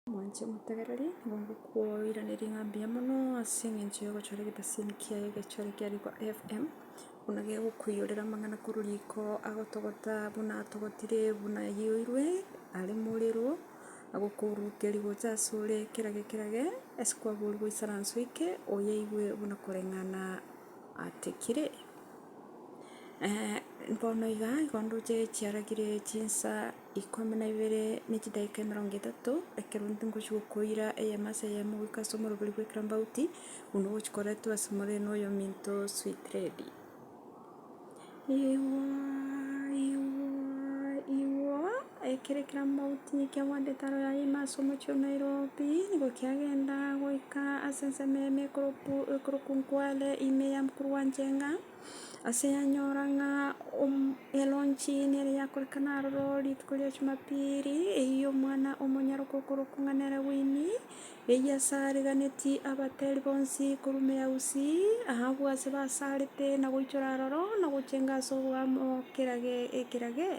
Omwanche omotegereri nigo agokoiraneria ng'a mbuya mono ase engencho y'ogochora egetasiimi kiaye egechore kia riko FM, buna gegokoiyorera amang'ana korwa riko agotogota buna atogotire buna ayoirwe are morero, agokourukeria gocha ase ore ekerage ekerage ase kwaborwa goisaransa oike oyeigwe buna koreng'ana atekire. bono iga igo ndoche chiaragire chinsa. ikomi na ibere ne chidaeka emerongo etato, ekero intwe ngochia gokoira eyemo ase eyemo goika ase omorobori bw'ekerambauti, buna ogochia koretwa ase more na oyominto sweet lady. Igooo igooo igooo, ekero ekerambauti kiagwantete aro yaye ime ase omochie o Nairobi, nigo kiagenda goika ase ensemo eyemo ekoroku ekoroku Nkwale ime ya mokuru gwa Njenga. Ase yanyora ng'a eronge nere yakorekana aroro rituko ria Jumapili, eyio omwana omonyaroke okorokwa ng'a nere Winnie, eyio ase ariganeti abateri bonsi korwa omoyia Gusii, abwo ase basarete na goichora aroro na gochenga ase oboamo ekerage.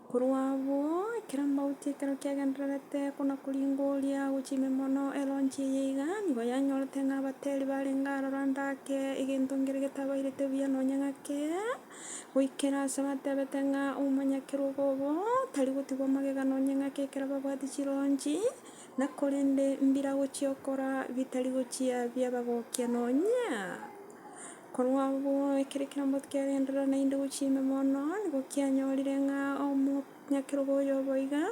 Korwa abwo, ekero mauti ekero kiagendererete konakoringoria gochia ime mono, eronche eye iga nigo yanyorete ng'a abateri barenge aroro ndake egento nkere getabairete buya nonya ng'ake, goikera aase batebete ng'a omomanyakerogo obo tari gotigwa magega nonya ng'ake ekero babwati chiroonchi, na korende mbira gochiokora bitari gochia biabagokia nonya. Korwa agwo ekero ekeromboti kiagenderera naende gochia ime mono, nigo kianyorire ng'a omonyakerogo oyo obo iga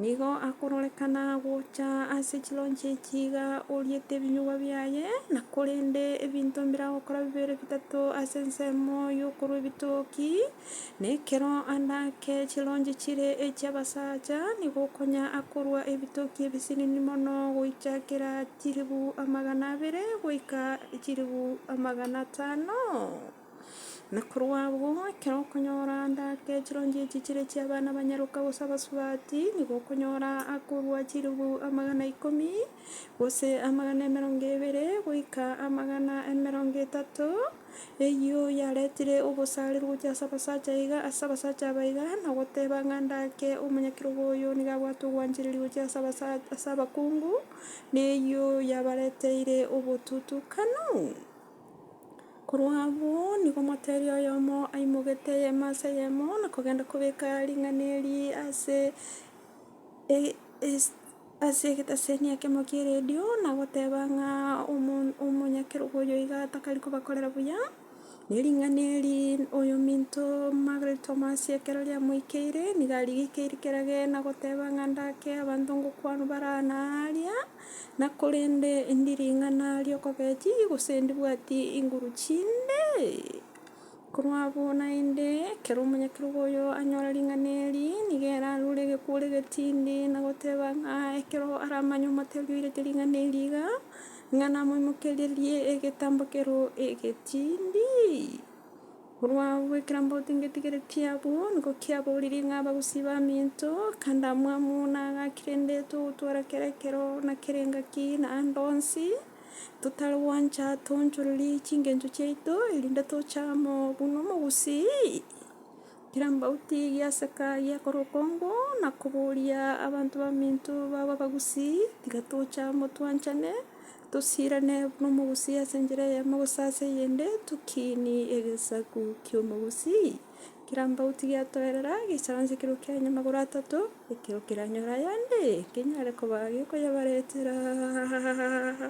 nigo akororekana gocha ase chironche echi iga oriete ebinyugwa biaye, na korende ebinto mbire agokora bibere bitato ase ensemo y'okorwa ebitoki. Na ekero ande ake chironche chire echi'abasacha, nigo okonya akorua ebitoki ebisinini mono, goichakera chilifu amagana abere goika chilifu amagana atano. Na korwa agwo, ekero okonyora ande ake chironche echi chire echi'abana ba nyaroka gose abasubati, nigo okonyora akorua chilifu amagana ikomi, gose amagana emerongo ebere, goika amagana emerongo etato. Eyio yaretire ogosaarerwa gochia ase abasacha iga ase abasacha aba iga, na goteba ng'a ndake omonyakerogo oyo nigo abwate ogwanchereria gochia ase abasacha ase abakungu, na eyio yabareteire obotutukanu. Korwa abwo nigo moteeri oyomo aimogete eyemo ase eyemo, na kogenda kobeka ring'ana eri ase ase egetaseni ekemo ki'eredio na goteba ng'a omonyakerogo oyo iga atakari kobakorera buya, na ering'ana eri oyo ominto Margaret Omasi ekero riamoikeire nigo arigekeiri kera gene na goteba ng'a ndake abanto ngokwana bare aa na aaria, na korende endi ring'ana ri'okogechi gose ndibwati inguru chinde. Korwa abwo naende, ekero omonyakerogo oyo anyora ring'ana eri, nigo ere arure egekuure getindi na goteba ng'a ekero aramanye omotebi oirete ring'ana eri iga, ng'a namoimokererie egetambo kero egetindi. Korwa abwo ekero amaboko ngetigeretie abwo, nigo kiaboriri ng'a abagusii ba minto, kande amwamu, na agaki rende togotwara kera ekero na kera engaki, na ande onsi. totari gwancha toonchorerie chingencho chiaito, erinde toche amo buna omogusii, kera mbauti giaseka giakora okongu na koboria abanto baminto baba abagusii, tiga toche amo twanchane, tosirane buna omogusii ase enchera eyemo gose ase eyende, tokinie egesaku kia omogusii, kera mbauti giatoerera gesaanse ekero kianya magoro atato, ekero keranyore ayande, kenyare koba gekoyebaretera.